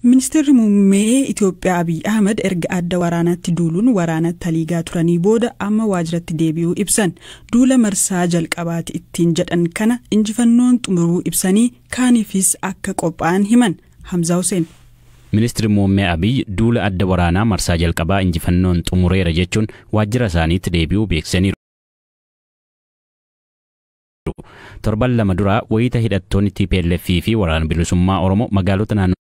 Ministeerri muummee Itoophiyaa Abiy Ahmad erga adda waraanaatti duuluun waraana taliigaa turanii booda amma waajjiratti deebi'uu ibsan. Duula marsaa jalqabaati ittiin jedhan kana injifannoon xumuruu ibsanii kaaniifis akka qophaa'an himan. Hamzaa Huseen. Ministeerri muummee Abiy duula adda waraanaa marsaa jalqabaa injifannoon xumureera jechuun waajjira isaaniitti deebi'uu beeksisaniiru. Torban lama dura wayita hidhattoonni TPLF fi waraana bilisummaa Oromoo magaalota naannolee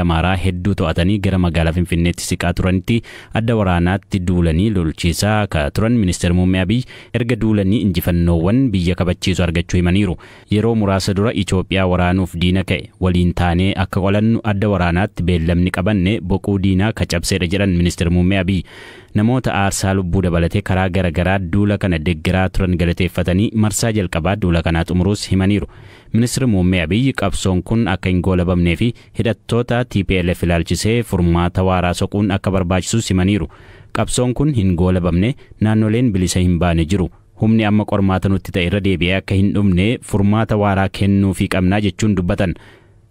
Amaaraa hedduu to'atanii gara magaalaa Finfinneetti siqaa turanitti adda waraanaatti duulanii lolchiisaa akka turan ministeerri muummee Abiy erga duulanii injifannoowwan biyya kabachiisu argachuu himaniiru. Yeroo muraasa dura Itoophiyaa waraanuuf diina ka'e waliin taanee akka qolannu adda waraanaatti beellamni qabanne boquu diinaa ka cabseedha jedhan Ministir Muummee Abiy. Namoota aarsaa lubbuu dabalatee karaa gara garaa duula kana deggeraa turan galateeffatanii marsaa jalqabaa duula kanaa xumuruus himaniiru. Ministir Muummee Abiy qabsoon kun akka hin goolabamnee fi hidhattoota tplf ilaalchisee furmaata waaraa soquun akka barbaachisus himaniiru. Qabsoon kun hin goolabamne, naannoleen bilisa hin baane jiru. Humni amma qormaata nutti ta'e irra deebi'ee akka hin dhumne furmaata waaraa kennuufii qabna jechuun dubbatan.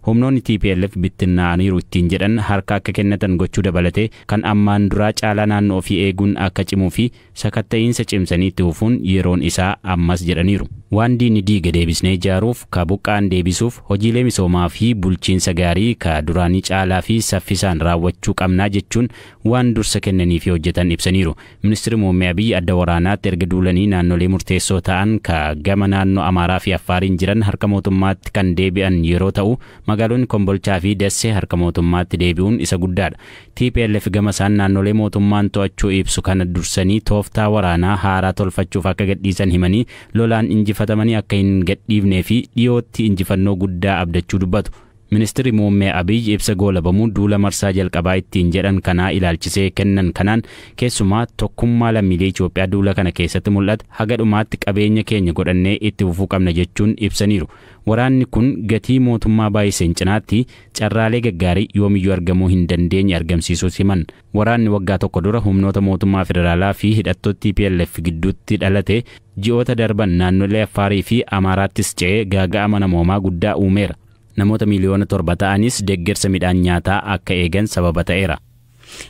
Humnoonni tplf bittinnaa'aniiru ittiin jedhan harka akka kennatan gochuu dabalatee kan ammaan duraa caalaa naannoo ofii eeguun akka cimuu fi sakatta'iinsa cimsanii itti fufuun yeroon isaa ammas jedhaniiru. Waan diinni diige deebisnee ijaaruuf, ka buqqa'an deebisuuf hojiilee misoomaa fi bulchiinsa gaarii ka duraanii caalaa fi saffisaan raawwachuu qabna jechuun waan dursa kennanii fi hojjetan ibsaniiru. Ministirri Muummee Abiy adda waraanaatti erga duulanii naannolee murteessoo ta'an ka gama naannoo Amaaraa fi Affaariin jiran harka mootummaatti kan deebi'an yeroo ta'u, magaalonni Kombolchaa fi Dassee harka mootummaatti deebi'uun isa guddaadha. Tplf gama isaan naannolee mootummaan to'achuu ibsu kana dursanii tooftaa waraanaa haaraa tolfachuuf akka gadhiisan himanii lolaan injifatamanii akka hin gadhiifnee fi dhiyootti injifannoo guddaa abdachuu dubbatu. Ministirri Muummee Abiy ibsa goolabamuu duula marsaa jalqabaa ittiin jedhan kanaa ilaalchisee kennan kanaan keessumaa tokkummaa lammiilee Itoophiyaa duula kana keessatti mul'ate haga dhumaatti qabeenya keenya godhannee itti fufuu qabna jechuun ibsaniiru. Waraanni kun gatii mootummaa baay'iseen cinaatti carraalee gaggaarii yoomiyyuu argamuu hin dandeenye argamsiisuus himan. Waraanni waggaa tokko dura humnoota mootummaa federaalaa fi hidhattoota tplf gidduutti dhalate ji'oota darban naannolee Affaarii fi Amaaraattis ce'ee gaaga'ama namoomaa guddaa uumeera. Namoota miiliyoona torba ta'anis deeggarsa midhaan nyaataa akka eegan sababa ta'eera.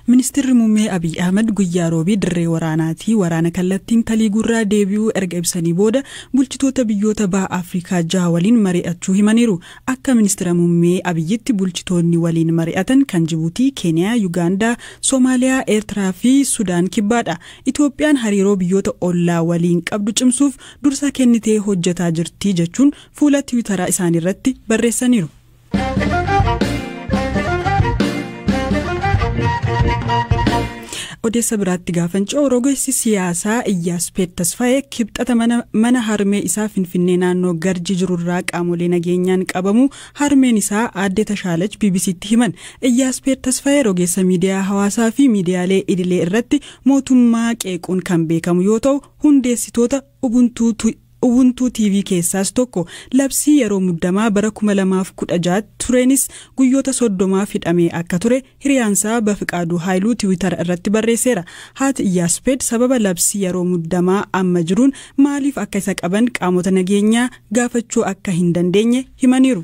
Ministirri Muummee Abiy Ahmad guyyaa Roobii dirree waraanaatii waraana kallattiin taliiguurraa deebi'uu erga ibsanii booda bulchitoota biyyoota Baha Afrikaa jaha waliin mari'achuu himaniiru. Akka Ministira Muummee Abiyyitti bulchitoonni waliin mari'atan kan Jibuutii, Keeniyaa, Yugaandaa, Somaaliyaa, Eertiraa fi Sudaan Kibbaadha. Itoophiyaan hariiroo biyyoota ollaa waliin qabdu cimsuuf dursa kennitee hojjetaa jirti jechuun fuula tiwitaraa isaaniirratti barreessaniiru. odeessa biraatti gaafan ce'u rogeessi siyaasaa iyyaaspeet tasfaa'ee kibxata mana harmee isaa finfinnee naannoo garji jirurraa qaamolee nageenyaan qabamuu harmeen isaa aadde tashaalach bbctti himan iyyaaspeet tasfaa'ee rogeessa miidiyaa hawaasaa fi miidiyaalee idilee irratti mootummaa qeequun kan beekamu yoo ta'u hundeessitoota ubuntuu Ubuntu TV keessaas tokko. Labsii yeroo muddamaa bara 2016 tti tureenis guyyoota 30f hidhamee akka ture hiriyaansaa Bafiqaaduu Haayiluu tiwitara irratti barreesseera. Haati Iyyaaspeed sababa labsii yeroo muddamaa amma jiruun maaliif akka isa qaban qaamota nageenyaa gaafachuu akka hin dandeenye himaniiru.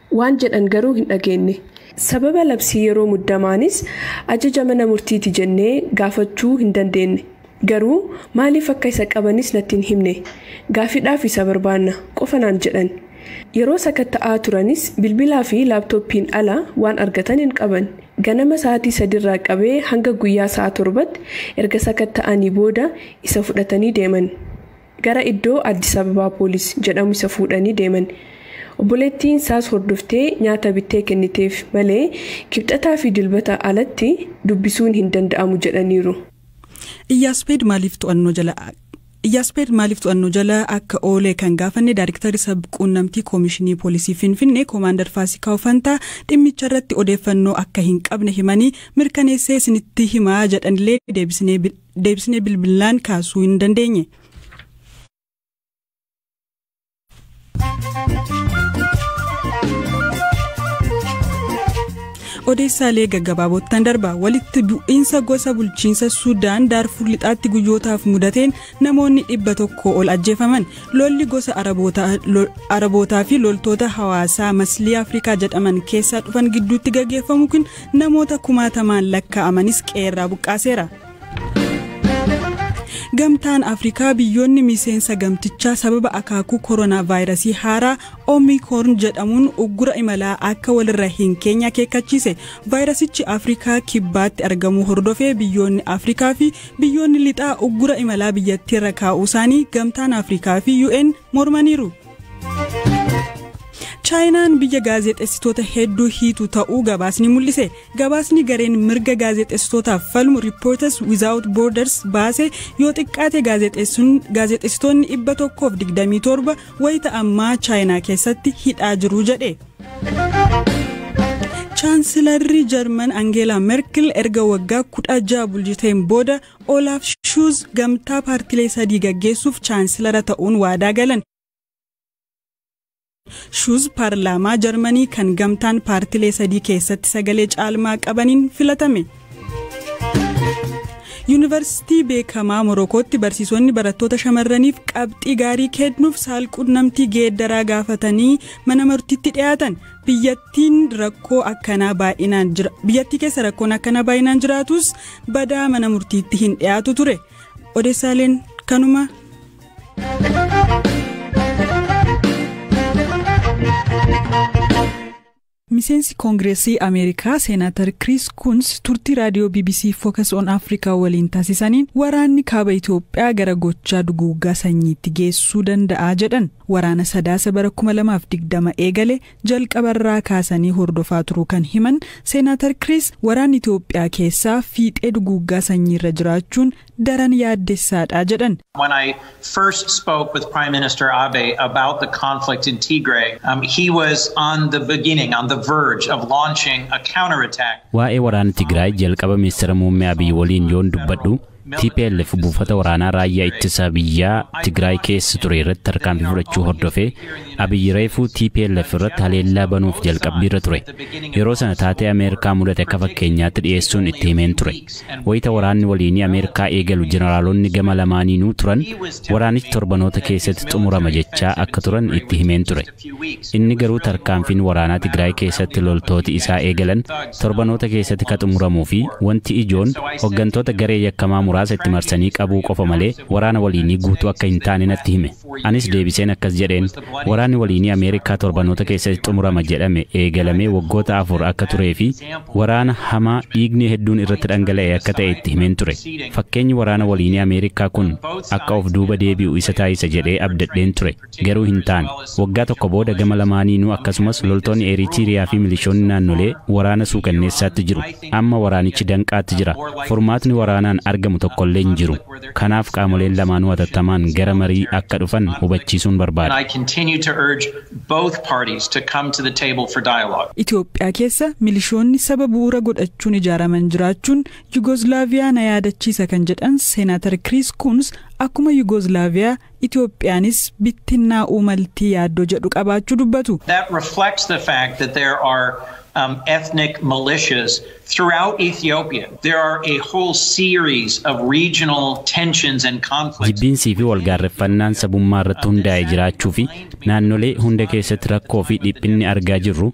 waan jedhan garuu hin dhageenne. Sababa labsii yeroo muddamaanis ajaja mana murtiiti jennee gaafachuu hin dandeenne. Garuu maaliif akka isa qabanis natti hin himne. Gaaffiidhaaf isa barbaanna, qofa naan jedhan. Yeroo sakatta'aa turanis bilbilaa fi laaptooppiin ala waan argatan hin qaban. Ganama sa'aatii sadiirraa qabee hanga guyyaa sa'a torbatti erga sakatta'anii booda isa fudhatanii deeman. Gara iddoo Addis Ababaa Poolis jedhamu isa fuudhanii deeman. Obboleettiin isaas hordoftee nyaata bittee kenniteef malee Kibxataa fi Dilbata alatti dubbisuun hin danda'amu jedhaniiru. Iyyaaspeed maaliif to'annoo jala Iyyaaspeed maaliif to'annoo jala akka oole kan gaafanne Daayrektarri Sabquunnamtii Koomishinii Poolisii Finfinnee Koomaandar Faasikaw Fantaa dhimmicharratti odeeffannoo akka hin qabne himanii mirkaneessee isinitti himaa jedhanillee deebisnee deebisnee bilbillaan kaasuu hin dandeenye. odeessaalee gaggabaabottan darba walitti bu'iinsa gosa bulchiinsa suudaan daarfur lixaatti guyyootaaf mudateen namoonni dhibba tokko ol ajjeefaman lolli gosa arabootaa fi loltoota hawaasaa maslii afrikaa jedhaman keessaa dhufan gidduutti gaggeeffamu kun Namoota kumaatamaan lakkaa'amanis qe'eerraa buqqaaseera. Gamtaan Afrikaa biyyoonni miseensa gamtichaa sababa akaakuu koronaa vaayirasii haaraa Omikoorn jedhamuun uggura imalaa akka walirra hin keenye akeekkachiise. Vaayirasichi Afrikaa kibbaatti argamuu hordofee biyyoonni Afrikaa fi biyyoonni lixaa uggura imalaa biyyattiirra kaa'uu isaanii gamtaan Afrikaa fi UN mormaniiru. chaayinaan biyya gaazexessitoota hedduu hiitu ta'uu gabaasni mul'ise gabaasni gareen mirga gaazexessitootaaf falmu riippoortas wizaawut boorders baase yoo xiqqaate gaazexessitoonni 127 wayita ammaa chaayinaa keessatti hidhaa jiru jedhe. chaansilarri jarman angeelaa merkel erga waggaa 16 bulchiteen booda Olaaf Shuuz gamtaa paartilee sadii gaggeessuuf chaansilara ta'uun waadaa galan. Shuuz paarlaamaa Jarmanii kan gamtaan paartilee sadii keessatti sagalee caalmaa qabaniin filatame. Yuunivarsiitii beekamaa Morokootti barsiisonni barattoota shamarraniif qabxii gaarii kennuuf saalqunnamtii geeddaraa gaafatanii mana murtiitti dhiyaatan. biyyattiin rakkoo akkanaa baay'inaan jira biyyattii keessa rakkoon akkanaa baay'inaan jiraatus badaa mana murtiitti hin dhiyaatu ture odeessaaleen kanuma. miseensi koongireesii ameerikaa seenaatar kiriis kuns turtii raadiyoo bbc fookas on afrikaa waliin taasisaniin waraanni kaaba itiyoophiyaa gara gochaa duguuggaa sanyiitti geessuu danda'a jedhan Waraana Sadaasa bara 2020 eegale jalqabarraa kaasanii hordofaa turuu kan himan Seenaatar Kiriis, waraanni Itoophiyaa keessaa fiixee duguuggaa sanyiirra jiraachuun daran yaaddessaadha jedhan. When I first spoke with Prime Minister Abe about the conflict in Tigray, um, he was on the beginning, on the verge of launching a counterattack. Waa'ee waraana Tigraay jalqaba Ministira Muummee Abiy waliin yoon dubbadhu, Tplf buufata waraanaa Raayyaa Ittisa Biyyaa Tigraay keessa ture irratti tarkaanfii fudhachuu hordofee Abiy reefuu tplf irratti haleellaa banuuf jalqabbiirra ture. Yeroo sana taatee Ameerikaa mudate akka fakkeenyaatti dhiyeessuun itti himeen ture. Wayita waraanni waliinii Ameerikaa eegalu jeneraalonni gama lamaaniinuu turan waraanichi torbanoota keessatti xumurama jechaa akka turan itti himeen ture. Inni garuu tarkaanfiin waraanaa Tigraay keessatti loltooti isaa eegalan torbanoota keessatti ka xumuramuu fi wanti ijoon hoggantoota garee yakkamaa muraasa itti marsanii qabuu qofa malee waraana waliinii guutuu akka hin taane natti hime. Anis deebiseen akkas jedheen, Waraanni waliinii Ameerikaa torbanoota keessatti xumurama jedhame eegalamee waggoota afur akka turee fi waraana hamaa dhiigni hedduun irratti dhangala'e akka ta'e itti himeen ture. Fakkeenyi waraana waliinii Ameerikaa kun akka of duuba deebi'u isa taasisa jedhee abdadheen ture. Garuu hin taane. Waggaa tokko booda gama lamaaniinuu akkasumas loltoonni Eeriitiiriyaa fi milishoonni naannolee waraana suukanneessaatti jiru. Amma waraanichi danqaatti jira. Furmaatni waraanaan argamu tokkollee hin jiru. Kanaaf qaamoleen lamaanuu hatattamaan gara marii akka dhufan hubachiisuun barbaada. Itoophiyaa keessa milishoonni saba bu'uura godhachuun ijaaraman jiraachuun Yugoozlaaviyaa na yaadachiisa kan jedhan Seenaatar Kiriis Kuuns akkuma Yugoozlaaviyaa Itoophiyaanis bittinnaa'uu malti yaaddoo jedhu qabaachuu dubbatu. That reflects the fact that there are um, ethnic militias throughout Ethiopia. There are a whole series of regional tensions and conflicts. Jibbiinsii fi walgaarreffannaan sabummaa irratti hundaa'e jiraachuu fi naannolee hunda keessatti rakkoo fi dhiphinni argaa jirru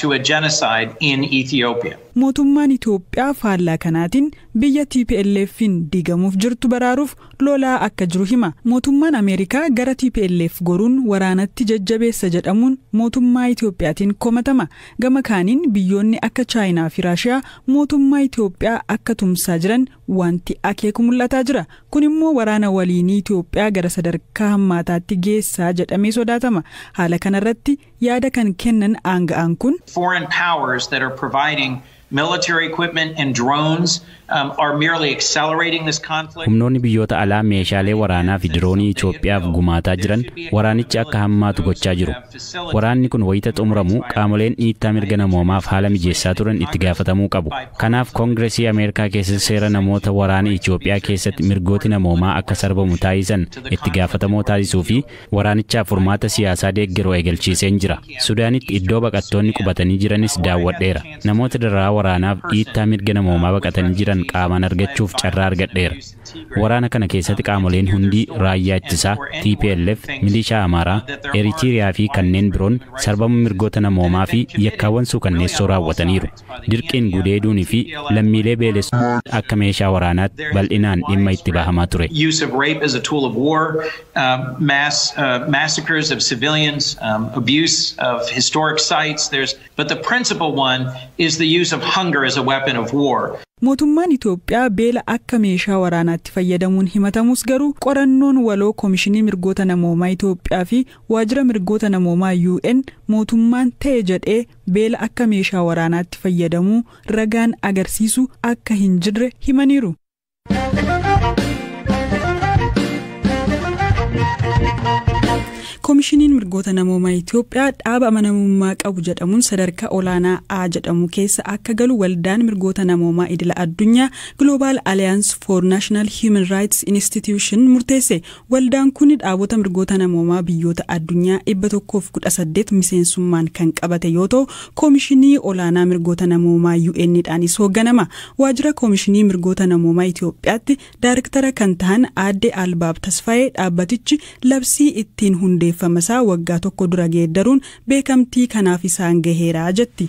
to a genocide in Ethiopia. Mootummaan Itoophiyaa faallaa kanaatiin biyya TPLFn diigamuuf jirtu baraaruuf lolaa akka jiru hima. Mootummaan Ameerikaa gara tplf goruun waraanatti jajjabeessa jedhamuun mootummaa Itoophiyaatiin komatama. Gama kaaniin biyyoonni akka Chaayinaa fi Raashiyaa mootummaa Itoophiyaa akka tumsaa jiran waanti akeeku mul'ataa jira. Kun immoo waraana waliinii Itoophiyaa gara sadarkaa hammaataatti geessaa jedhamee sodaatama. Haala kanarratti. Yaada kan kennan aanga'aan kun. foreign powers that are providing military equipment and drones um, are merely accelerating this conflict. Humnoonni biyyoota alaa meeshaalee waraanaa fi diroonii Itoophiyaaf gumaataa jiran waraanichi akka hammaatu gochaa jiru. Waraanni kun wayita xumuramu qaamoleen dhiittaa mirga namoomaaf haala mijeessaa turan itti gaafatamuu qabu. Kanaaf Koongiresii Ameerikaa keessatti seera namoota waraana Itoophiyaa keessatti mirgooti namoomaa akka sarbamu taasisan itti gaafatamoo taasisuu fi Waraanichaaf furmaata siyaasaa deeggaru eegalchiiseen jira. Sudaanitti iddoo baqattoonni qubatanii jiranis daawwadheera. Namoota dararaa waraanaaf dhiittaa mirga namoomaa baqatanii jiran qaamaan argachuuf carraa argadheera. Waraana kana keessatti qaamoleen hundii, raayyaa ittisaa, tplf, milishaa Amaaraa, Eritiiriyaa fi kanneen biroon sarbama mirgoota namoomaa fi yakkaawwan suukanneessoo raawwataniiru. Dirqiin gudeeduun fi lammiilee beelessuun akka meeshaa waraanaatti bal'inaan dhimma itti bahamaa ture. um, mass uh, massacres of civilians, um, abuse of historic sites. There's, but the principal one is the use of hunger as a weapon of war. Mootummaan Itoophiyaa beela akka meeshaa waraanaatti fayyadamuun himatamus garuu qorannoon waloo Komishinii Mirgoota Namoomaa Itoophiyaa fi Waajjira Mirgoota Namoomaa UN mootummaan ta'e jedhee beela akka meeshaa waraanaatti fayyadamuu ragaan agarsiisu akka hin jirre himaniiru. Koomishiniin mirgoota namoomaa Itoophiyaa dhaaba amanamummaa qabu jedhamuun sadarkaa olaanaa A jedhamu keessa akka galu waldaan mirgoota namoomaa idila addunyaa Global Alliance for National Human Rights Institution murteesse Waldaan kun dhaabota mirgoota namoomaa biyyoota addunyaa 118 miseensummaan kan qabate yoo ta'u, Koomishinii Olaanaa Mirgoota Namoomaa UN dhaanis hoogganama. Waajjira Koomishinii Mirgoota Namoomaa Itoophiyaatti Daarektara kan tahan Aadde Albaab Tasfaayee dhaabbatichi labsii ittiin hundeeffamasaa waggaa tokko dura geeddaruun beekamtii kanaaf isaan gaheera jetti.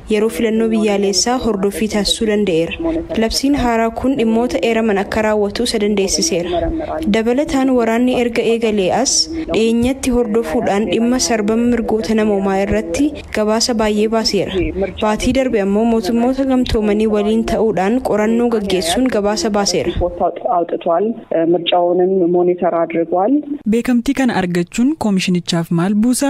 yeroo filannoo biyyaaleessaa hordoffii taasisuu danda'eera. Labsiin haaraa kun dhimmoota eeraman akka raawwatu isa dandeessiseera. Dabalataan waraanni erga eegalee as dhiyeenyatti hordofuudhaan dhimma sarbama mirgoota namoomaa irratti gabaasa baay'ee baaseera. Baatii darbe ammoo Mootummoota Gamtoomanii waliin ta'uudhaan qorannoo gaggeessuun gabaasa baaseera. Beekamtii kana argachuun komishinichaaf maal buusa?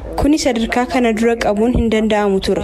Kuni sadarkaa kana dura qabuun hin danda'amu ture.